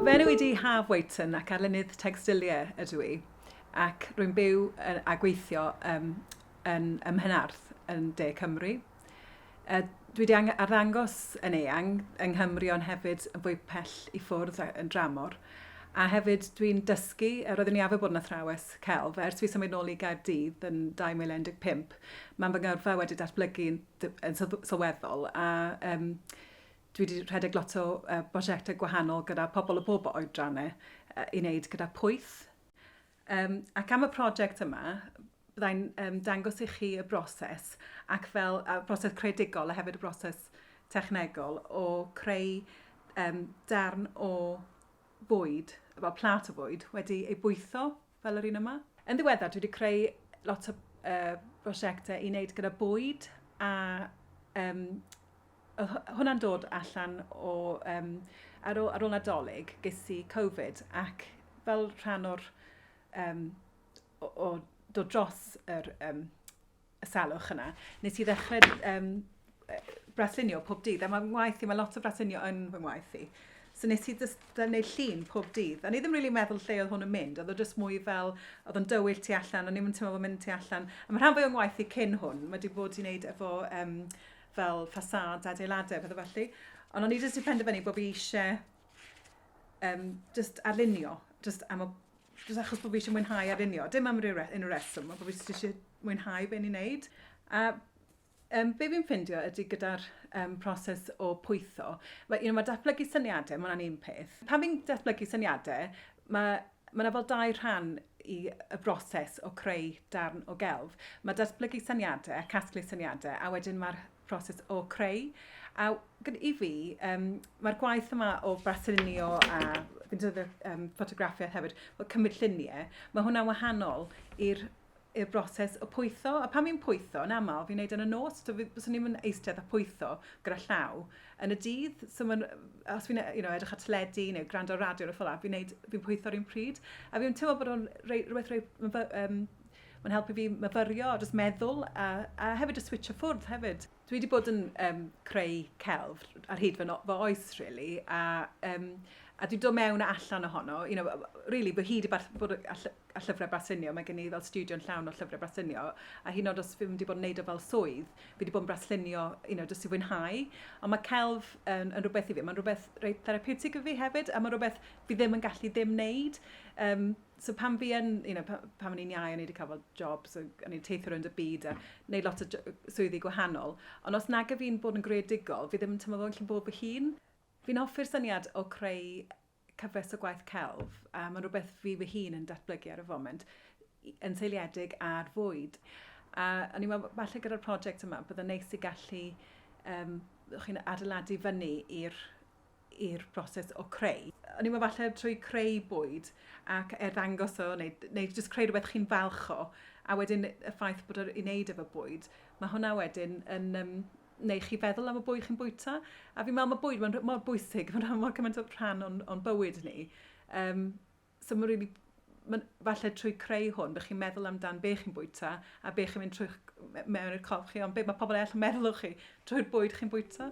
Fy enw i di Haf Waiton ac arlunydd Textilia ydw i ac rwy'n byw a gweithio um, yn, ym Mhenarth yn De Cymru. Uh, dwi wedi arddangos yn eang yng Nghymru ond hefyd yn fwy pell i ffwrdd yn dramor. A hefyd dwi'n dysgu, a roeddwn i arfer bod yn athrawes celf, ers fi symud nôl i Gaerdydd yn 2015, Mae fy ngyrfa wedi datblygu'n sylweddol a yym dwi 'di rhedeg lot o yy brosiecte gwahanol gyda pobl o bob oedrannau yy i wneud gyda pwyth. Yym ac am y prosiect yma byddai'n yym dangos i chi y broses ac fel y broses creadigol a hefyd y broses technegol o creu yym darn o fwyd, fel plat o fwyd wedi ei bwytho fel yr un yma. Yn ddiweddar, dwi wedi creu lot o brosiectau i wneud gyda bwyd a um, hwnna'n dod allan o, um, ar, ôl, ar ôl Nadolig, ges i Covid ac fel rhan o'r, um, o, o dod dros yr um, y salwch yna, nes i ddechrau um, braslunio pob dydd. A mae'n ngwaith i, mae lot o braslunio yn fy ngwaith i. So nes i just gwneud llun pob dydd. A ni ddim really meddwl lle oedd hwn yn mynd. Oedd o just mwy fel, oedd o'n dywyll tu allan, o'n i'n teimlo fod mynd tu allan. A mae rhan fwy o'n ngwaith i cyn hwn. Mae wedi bod i wneud efo um, fel ffasad, adeiladau, pethau felly. Ond o'n i jyst i penderfynu bod fi eisiau um, just arlunio, just am y Jyst achos bod fi eisiau mwynhau a lunio. Dim am ryw unrhyw reswm, ond bod fi jyst eisiau mwynhau be ni'n wneud. A um, be fi'n ffindio ydy gyda'r um, proses o pwytho, mae, you know, mae datblygu syniadau, mae hwnna'n un peth. Pan fi'n datblygu syniadau, mae Mae yna fel dau rhan i y broses o creu darn o gelf. Mae datblygu syniadau a casglu syniadau, a wedyn mae'r proses o creu. A i fi, um, mae'r gwaith yma o braslunio a fi'n dod um, ffotograffiaeth hefyd, o cymryd lluniau, mae hwnna'n wahanol i'r i'r broses o pwytho. A pan fi'n pwytho, yn aml, fi'n neud yn y nos, so fyswn i'n mynd eistedd a pwytho gyda llaw yn y dydd. So man, os fi'n you know, edrych at teledu neu gwrando radio ar y ffola, fi'n fi pwytho'r un pryd. A fi'n teimlo bod o'n rhywbeth rei, um, Mae'n helpu fi myfyrio a jyst meddwl a a hefyd jyst switsio ffwrdd hefyd. Dwi wedi bod yn yym creu celf ar hyd fy no- fy oes rili a yym a dwi'n dod mewn a allan ohono you know rili fy hyd i ba- bod y ll- y llyfre braslunio mae gen i fel stiwdio'n llawn o llyfre braslunio a hyd yn o'd os fi'm wedi bod yn neud o fel swydd fi wedi bod yn braslunio you know jyst i fwynhau ond ma' celf yn yn rwbeth i fi ma'n rwbeth reit therapiwtig i fi hefyd a ma' rwbeth fi ddim yn gallu ddim neud yym So pan fi yn, you know, pan o'n i'n iau, o'n i wedi cael fel job, so o'n i'n teithio rownd y byd a wneud lot o swyddi gwahanol. Ond os nag y fi'n bod yn greadigol, fi ddim yn teimlo fel yn bod fy hun. Fi'n hoffi'r syniad o creu cyfres o gwaith celf. Um, mae'n rhywbeth fi fy hun yn datblygu ar y foment, yn seiliedig ar fwyd. A o'n i'n meddwl, falle gyda'r prosiect yma, byddai'n neis i gallu um, chi'n adeiladu fyny i'r i'r broses o creu. Hynny yw efallai trwy creu bwyd ac arddangos o neu neu jyst creu rhywbeth chi'n falch o a wedyn y ffaith bod o'r i wneud efo bwyd mae hwnna wedyn yn yym neu chi feddwl am y bwyd chi'n bwyta a fi'n meddwl mae bwyd mae'n mor bwysig mae'n rhan mor cymaint o rhan o'n o'n bywyd ni. Yym. so mae'n rili... mae'n... falle trwy creu hwn, bych chi'n meddwl amdan be chi'n bwyta a be chi'n mynd trwy'ch... mewn i'r corff chi, ond be mae pobl eraill yn meddwl o chi trwy'r bwyd chi'n bwyta.